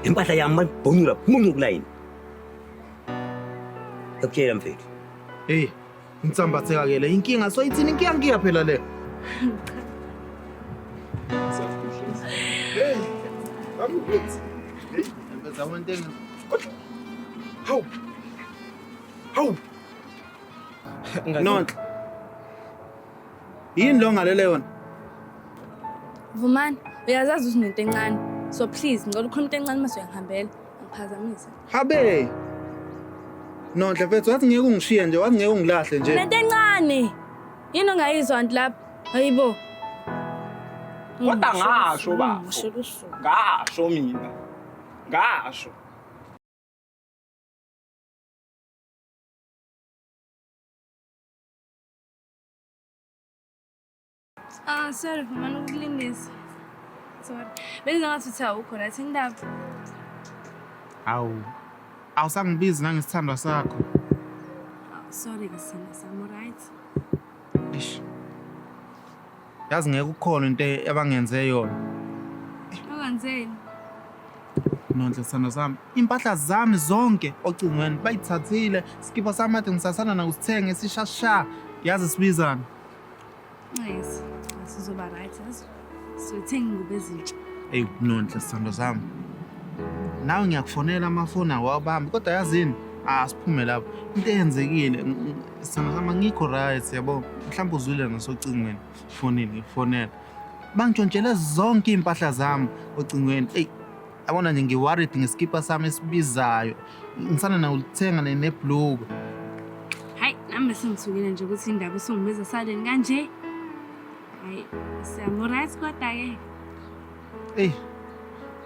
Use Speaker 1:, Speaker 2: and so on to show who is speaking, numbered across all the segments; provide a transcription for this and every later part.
Speaker 1: impahla yami malibhunyula muncu kulayini ekutshela mfethu Hey,
Speaker 2: insambatheka ke le inkinga so ithini inkinga ngiya phela le. Hey, I'm good. Hey, ngempeza one thing. Hawu. Hawu. Nonhle. Yini lo ngalele yona? Vumani,
Speaker 3: uyazazi ukuthi nento encane. So please, ngicela ukhuluma into encane mase uyangihambela. Angiphazamisa. Habe.
Speaker 2: Nonhle mfethu wathi ngeke ungishiye nje, wathi ngeke ungilahle nje. Nento encane.
Speaker 3: Yini ongayizwa nti lapha? Hayibo.
Speaker 4: Kodwa ngasho bafo. Ngisho lusuku. Ngasho mina. Ngasho.
Speaker 3: Ah, sorry mama, ngikulindise. Sorry. Benza ngathi uthi awukho right indaba. Awu.
Speaker 2: Awusangibizi nangesithandwa sakho. Ah,
Speaker 3: sorry ke sina, I'm right. Eish.
Speaker 2: yazi ngeke ukhona into abangenze yona
Speaker 3: Ungenzeni?
Speaker 2: nonhle sithando sami iy'mpahla zami zonke ocingweni bayithathile sikipa sami ade ngisasana nakusithenge sishasha yazi sibizana
Speaker 3: Nxesi. Sizoba right. yazi. Siyothenga ingubo ezintsha. eyi nonhle
Speaker 2: sithando sami nawe ngiyakufonela amafoni awawubambi kodwa yazini asiphume lapho into eyenzekile ng- ng- Sithando sami angikho right yabo. Mhlawumbe uzwile nasocingweni. Fonini ngifonela. Bangitshontshele zonke iy'mpahla zami ocingweni. Eyi yabona nje ngi-worried ngesikipa sami esibizayo. Ngisana nawulithenga ne- nebhluku.
Speaker 3: Hayi, nami sengithukile nje ukuthi indaba usungibiza saleni kanje. Hayi, siyamuright kodwa-ke.
Speaker 2: Eyi,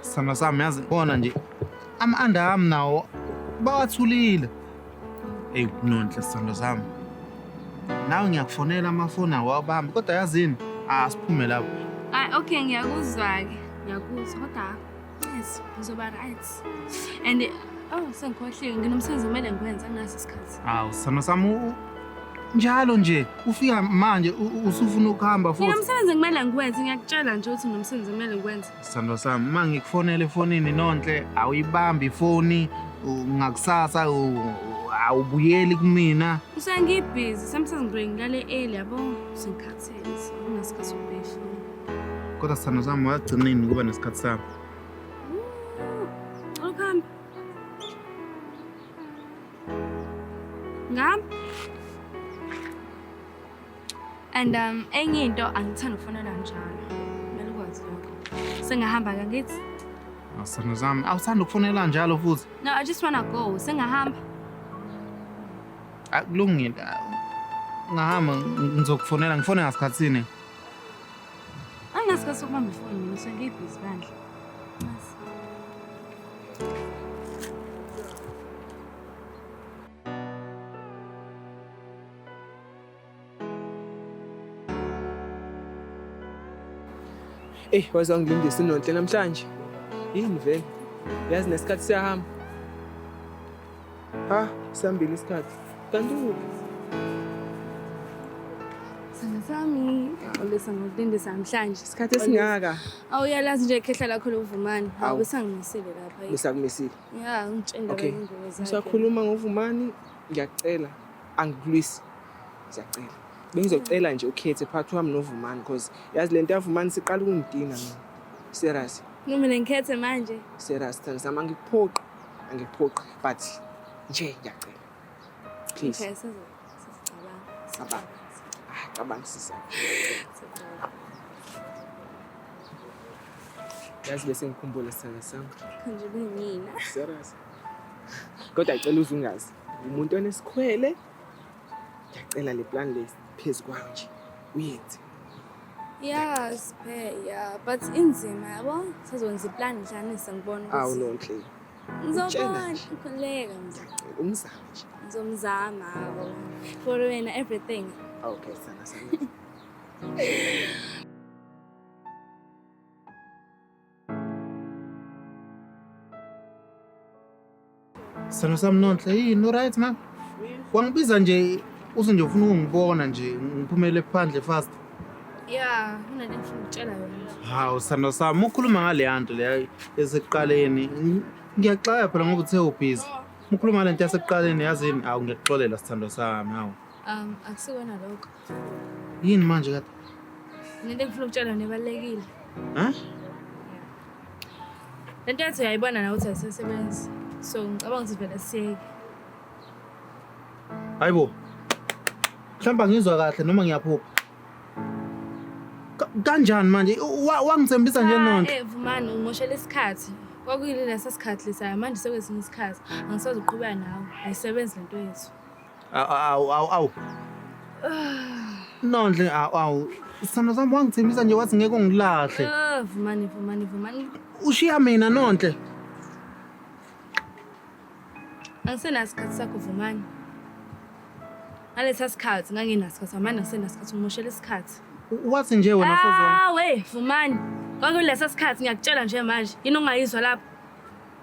Speaker 2: sithando sami yazi bona nje ama-anda ami nawo bawathulile. Eyi kunonhle sithando sami. Nawe ngiyakufonela amafoni awo awabambi kodwa yazini asiphume lapho. Hayi okay
Speaker 3: ngiyakuzwa-ke ngiyakuzwa kodwa yes ngizoba right and oh sengikhohliwe nginomsebenzi kumele ngiwenze angaso isikhathi Awu sithando sami u-
Speaker 2: u- njalo nje ufika manje u- u- usufuna ukuhamba Mina futhi. umsebenzi kumele ngiwenze,
Speaker 3: ngiyakutshela nje ukuthi nomsebenzi kumele ngiwenze. Sithando sami uma
Speaker 2: ngikufonele efonini nonhle awuyibambi ifoni u- ngakusasa u- u- awubuyeli kumina. Usengibhizi,
Speaker 3: sometimes ngibuye ngilale early yabo, sengikhathele, so nginasikhathi
Speaker 2: sokubuya ehlweni. Kodwa sithando sami wagcina nini ukuba nesikhathi sami? Cela
Speaker 3: ukuhamba. Ngam. And um enye into angithanda ukufonela njalo. Kumele ukwazi lokho. Sengihamba ke ngithi. Asana
Speaker 2: zami, awuthanda ukufonela njalo futhi. No, I just wanna go.
Speaker 3: Sengihamba.
Speaker 2: Akulungile. Ngahamba ngizokufonela, ngifone ngasikhatsini. Angasikhathi
Speaker 3: sokubamba ifoni mina sengiyibhizi bandla.
Speaker 5: Ey, waze wangilindisa inonhle namhlanje. Yini vele? Yazi nesikhathi siyahamba. Ah, sihambile isikhathi. Kanti ukuphi?
Speaker 3: Sana sami, awulisa ngokulindisa namhlanje. Isikhathi esingaka.
Speaker 5: Awuyalazi nje
Speaker 3: ikhehla lakho lovumani. Hawu besangimisile lapha. Besakumisile. Ya,
Speaker 5: ngitshela
Speaker 3: okay. ingozi zakhe.
Speaker 5: Usakhuluma
Speaker 3: ngovumani,
Speaker 5: ngiyacela angikulwisi. Ngiyacela. Bengizocela nje ukhethe phakathi wami novumani because yazi lento yavumani siqala ukungidina mina. Serious. Noma ngikhethe
Speaker 3: manje. Serious, Thandisama
Speaker 5: ngikuphoqa. angikuphoqi but nje ngiyacela please Okay, sizo-
Speaker 3: sizocabanga. Cabanga.
Speaker 5: Ah, cabanga sisa Sizocabanga. yazi bese ngikhumbula sithanda sami Nje kuyimina.
Speaker 3: serious
Speaker 5: kodwa ngicela uze ungazi umuntu onesikhwele ngiyacela le plan le phezu kwayo nje uyenze Yeah,
Speaker 3: siphe yeah, but inzima yabo. Sazonza iplan nhlanisa ngibona ukuthi. Awu no Nhle.
Speaker 5: Ngizobona
Speaker 3: khuleka mntu. Umzama nje.
Speaker 5: Ngizomzama hawo.
Speaker 3: For wena everything. Okay, sana sana.
Speaker 2: Sithando sami Nonhle, yini uright na? Wangibiza nje uthi nje ufuna ukungibona nje ngiphumele phandle fast. Ya, kunento engifuna
Speaker 3: ukutshela yona nje. Hawu sithando sami
Speaker 2: ukhuluma ngaleya nto leya esekuqaleni. Ng- Ngiyaxaya phela ngoba uthe ubhizi. Ukhuluma ngale nto yasekuqaleni yazini hawu ngiyakuxolela sithando sami hawu. Um, akusiwena
Speaker 3: lokho. Yini
Speaker 2: manje kade? Nento engifuna
Speaker 3: ukutshela yona ebalulekile.
Speaker 2: Ha?
Speaker 3: Lento yathi uyayibona nawe ukuthi ayisasebenzi. So ngicabanga ukuthi vele siyeke.
Speaker 2: Hayibo. Mhlawumbe ngizwa kahle noma ngiyaphupha. Ka- Kanjani manje? Wa- Wangithembisa nje nonto. Eh vumani ungoshela
Speaker 3: isikhathi. Kwakuyini lesa sikhathi lesa manje sekwesinye isikhathi. Angisazi uqhubeka nawe. Ayisebenzi lento yethu. Awu awu awu
Speaker 2: awu. Nondle awu awu. Sithando sami wangithembisa nje wathi ngeke ungilahle. Ah, vumani vumani
Speaker 3: vumani Ushiya
Speaker 2: mina Nondle.
Speaker 3: angisenasikhathi sakho vumani ngalesa sikhathi ngangenasikhathi amane angisenasikhathi ngimoshela isikhathi U- Wathi nje wena
Speaker 2: sozwa. awe vumani
Speaker 3: kwakulesa sikhathi ngiyakutshela nje manje yini ongayizwa lapho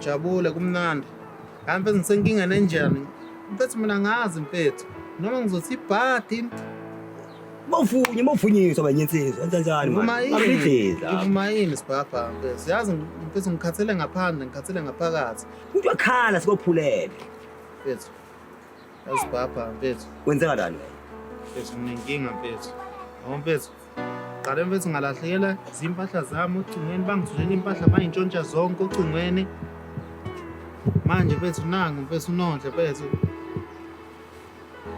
Speaker 2: Jabule kumnandi. Kanti mfethu ngisenkingeni enjani? Mfethu mina ngazi mfethu. Noma ngizothi ibhadi Bawufunye,
Speaker 1: bawufunyiswa banye insizwa. Enza njani Ngivuma manje? yini? Abidliza. Ngivuma yini
Speaker 2: sibhabha mfethu? Yazi mfethu ngikhathele ngaphandle, ngikhathele ngaphakathi. Umuntu wakhala
Speaker 1: sikophulele. Mfethu.
Speaker 2: Yazi sibhabha mfethu. Wenzeka kanjani?
Speaker 1: Mfethu
Speaker 2: nginenkinga mfethu. Yabo mfethu, Qale mfethu ngalahlekela zimpahla zami ocingweni bangithulela impahla bayintshontsha zonke ocingweni. Manje mfethu nangu mfethu unondle mfethu.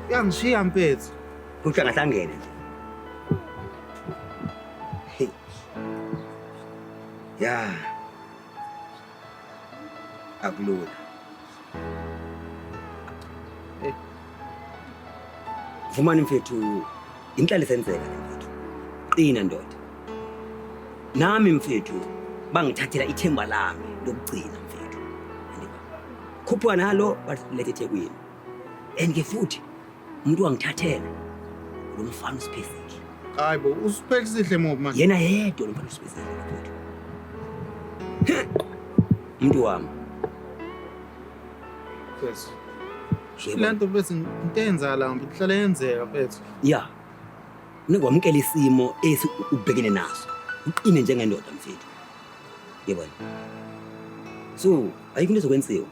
Speaker 2: Uyangishiya mfethu. Kuthi angahlangene
Speaker 1: nje. Hey. Yeah. akulula eh. vumani mfethu inhlali senzeka le mfethu qina ndoda nami mfethu bangithathela ithemba lami lokugcina mfethu khuphuka nalo balethe ethekwini and ke futhi Umuntu wangithathela lo mfana usiphezile. Hayi bo,
Speaker 2: usiphezile ngoba manje. Yena yedwa lo mfana
Speaker 1: usiphezile futhi. Umuntu wami.
Speaker 2: Yes. Lento bese into eyenzakala mfethu, ihlale yenzeka mfethu. Yeah.
Speaker 1: Ningwamukela isimo esi ubhekene naso. Uqine njengendoda mfethu. Yebo. So, ayikho into ezokwenziwa.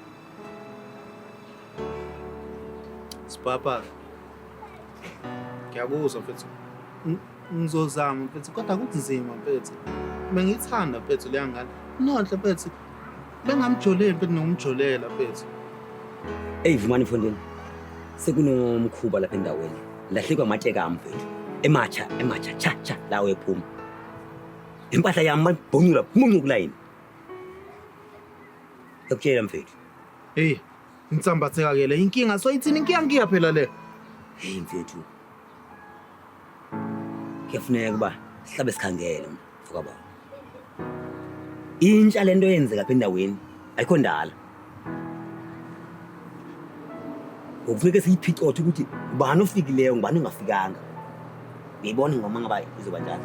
Speaker 2: Sipapa. Ngiyakuzwa mfethu. Ngizozama mfethu kodwa kunzima mfethu. Bengithanda mfethu leya ngane. Nonhle mfethu. Bengamjoleli mfethu nokumjolela mfethu. Ey
Speaker 1: vumani mfondini. Sekunomkhuba lapha endaweni. Lahlekwa amatshe kami mfethu. Ematsha, ematsha, cha cha lawo ephuma. Impahla yami bangibhonyula, muncukulayini. Ngikutshela mfethu. Hey,
Speaker 2: insambatheka ke le inkinga so ithini inkinga ngiya phela le. Hey mfethu.
Speaker 1: Kuyafuneka kuba sihlabe sikhangele mfoka baba. Intsha lento yenzeka apha endaweni ayikho ndala. Ngokufuneka siyiphicothe ukuthi ubani ofikileyo ngubani ongafikanga. Ngiyibona ngoma ngaba izoba njalo.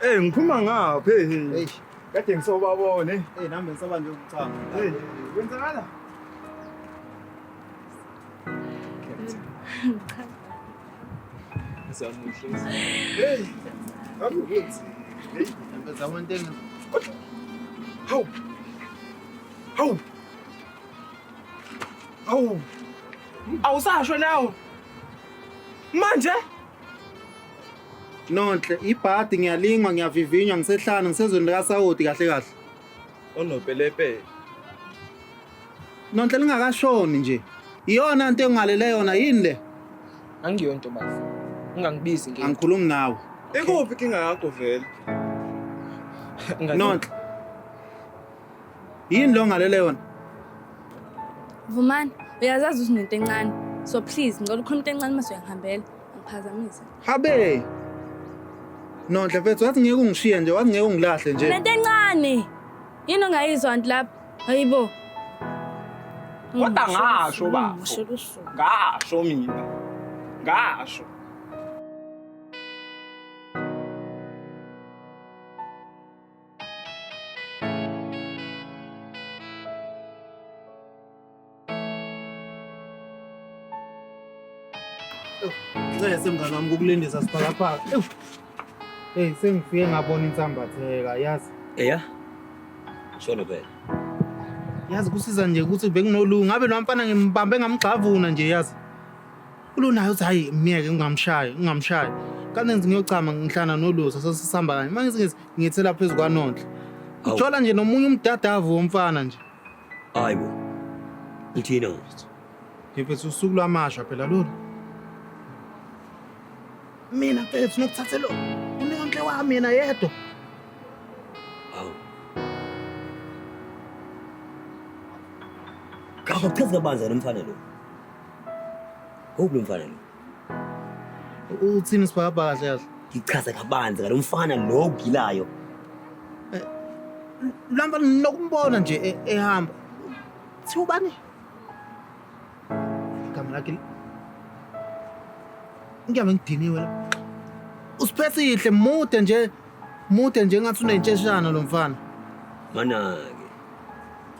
Speaker 2: Hey ngiphuma
Speaker 4: ngapha hey. Hey.
Speaker 2: Kade ngisobabone.
Speaker 4: Hey nami ngisaba nje
Speaker 2: ukuchama. Hey kwenzakala? Cha.
Speaker 4: Ngisamuhle. Hey. Akukuthi. Hey, ngempela one thing. Hawu.
Speaker 5: Hawu. Hawu. Awusasho nawo. Manje?
Speaker 2: Nonhle, ibhadi ngiyalingwa ngiyavivinywa ngisehlane ngisezweni likasawoti kahle kahle. Onopelepele. Nonhle lingakashoni nje. Iyona nto engalele yona yini le? Angiyo
Speaker 5: ntobazi. Ungangibizi nge. Angikhulumi nawe.
Speaker 2: Ikuphi kinga
Speaker 4: yakho vele? Nonhle.
Speaker 2: Nonhle. Yini lo ngalele yona? Vumani,
Speaker 3: uyazazi ukuthi unento encane. So please, ngicela ukhuluma into encane uma suyangihambela. Ngiphazamisa. Habe.
Speaker 2: Nonhle mfethu wathi ngeke ungishiye nje, wathi ngeke ungilahle nje. Lento encane.
Speaker 3: Yini ongayizwa nti lapha? Hayibo.
Speaker 5: Kodwa ngasho bafo. Ngisho lusuku. Ngasho mina. Ngasho.
Speaker 2: Ncese mngane wami kukulindisa sibhakabhaka. Ewu. Hey sengifike ngabona insambatheka yazi. Eya.
Speaker 1: Sholo phela. Yazi
Speaker 2: kusiza nje ukuthi benginolunga ngabe lo mfana ngimbambe ngamgxavuna nje yazi. Ulunayo uthi hayi myeke ungamshayi ungamshayi. Kanti ngithi ngiyochama ngihlana nolusa sasisamba kanye. Manje ngithi ngithela phezulu kwanonhle. Awu. Ujola nje nomunye umdadavu womfana nje. Hayi bo.
Speaker 1: Uthina ngathi. Ngifethu
Speaker 2: usuku lwamasha phela lolu. Mina mfethu ngikuthathe lo. Unonhle wami yena yedwa.
Speaker 1: Hawu. Kakuchaza kabanzi lo mfana lo. Hope lo mfana lo. Uthini
Speaker 2: sibhakabhaka kahle kahle? Ngichaze kabanzi ngalo
Speaker 1: mfana lo ogilayo.
Speaker 2: Lamba nokumbona nje e- ehamba. Thi ubani? Igama lakhe. Ngiyame ngidiniwe la. Usiphesihle mude nje. Mude nje ngathi unentsheshana lo mfana. Mana-ke.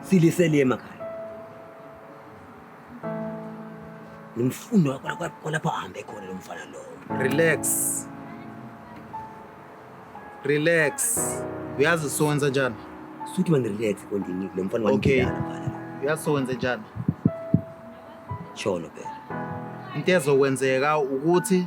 Speaker 1: silisele emakhaya ngimfuna kwalapho ahambe khona lo mfana lowo. Relax. Relax.
Speaker 2: Uyazi sonza njani? Suthi man relax
Speaker 1: kondini lo mfana Okay. wangidala phana.
Speaker 2: Uyazi
Speaker 1: sonza njani? Cholo phela. Into
Speaker 2: ezokwenzeka ukuthi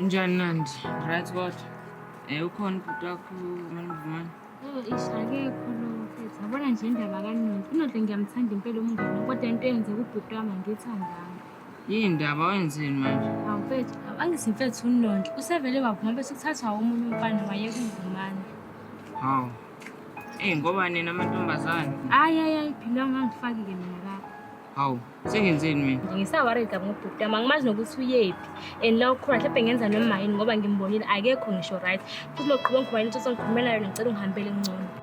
Speaker 6: Njani Nandi? Right what? Eh ukhona ubhuti wakho uManivumani? Oh, ish
Speaker 3: akekho lo mfethu. Yabona nje indaba kaNondi. UNondi ngiyamthanda impela umngane kodwa into eyenzeka ubhuti wami angiyithandanga. Yini ndaba
Speaker 6: wenzeni manje? Hawu mfethu,
Speaker 3: angithi mfethu uNondi usevele wavuma bese kuthathwa omunye umfana waye kuMvumani. Hawu.
Speaker 6: Eh ngoba nina amantombazane. Hayi hayi hayi phila
Speaker 3: ungangifaki-ke mina la. Hawu,
Speaker 6: sengenzeni mina? Ngisaworried kabi ngobhuti
Speaker 3: wami, angimazi nokuthi uyephi. And la ukhona mhlawumbe ngenza noma yini ngoba ngimbonile akekho ngisho right. Futhi loqhuba ngikhuluma into songikhuluma nayo ngicela ungihambele ngcono.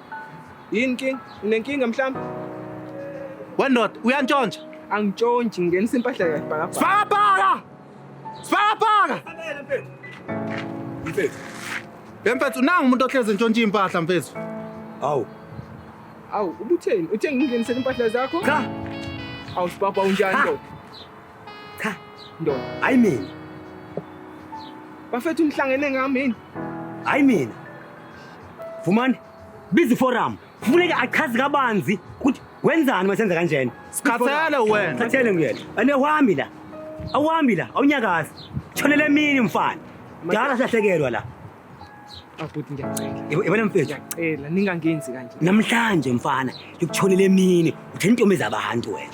Speaker 5: Yini king? Unenkinga mhlawumbe?
Speaker 2: Wendoda uyantshontsha. Angitshontshi
Speaker 5: ngenisa impahla yakhe bhaka. Sibhakabhaka!
Speaker 2: Sibhakabhaka!
Speaker 4: Fanele mfethu.
Speaker 2: Mfethu. Mfethu nangu umuntu ohlezi ntshontsha impahla mfethu. Awu.
Speaker 5: Awu ubutheni? Uthe ngingenisele impahla zakho? Cha.
Speaker 1: Awu
Speaker 5: sibhakabhaka unjani lo? Cha, ndoda,
Speaker 1: hayi mina.
Speaker 5: Bafethu
Speaker 1: nihlangene ngami
Speaker 5: yini?
Speaker 1: Hayi mina. Vumani, biza iforum. Kufuneka achaze kabanzi ukuthi wenzani masenza kanjena. Sikhathele wena.
Speaker 2: Sikhathele nguyena. Ane
Speaker 1: wami la. Awuhambi la, awunyakazi. Shonele emini mfana. Dala sahlekelwa la. Abhuti
Speaker 5: ngiyacela. Yabona mfethu. Ngiyacela
Speaker 1: ningangenzi
Speaker 5: kanje. Namhlanje mfana,
Speaker 1: ngikushonele emini. Utheni intombi zabantu wena.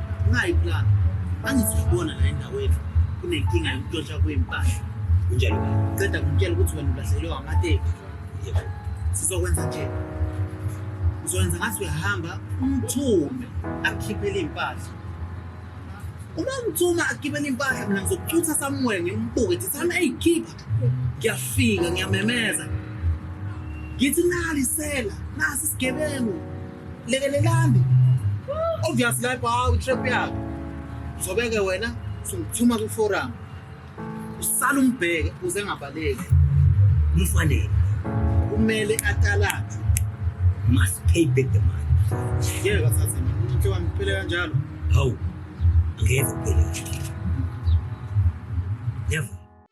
Speaker 2: Ungayiplana. Angithi uyibona la endaweni kunenkinga yokuntshontsha kwempahla. Kunjalo.
Speaker 1: Ceda kumtshela
Speaker 2: ukuthi wena ulahlekelwe amateki. Yebo. Sizokwenza nje. Uzokwenza ngathi uyahamba umthume akhiphele impahla. Uma umthuma akhiphele impahla mina ngizokucutha somewhere ngimbuke ngithi sana eyikhipha. Ngiyafika ngiyamemeza. Ngithi nali sela nasi sigebengu. lekelelani obvious lapho hawu trap yakho uzobeke wena sungithuma kwiforum usala umbheke uze ngabaleki umfanele kumele atalathe must
Speaker 1: pay back the money ngeke kasase
Speaker 2: into wami kuphele kanjalo hawu
Speaker 1: ngeke kuphele never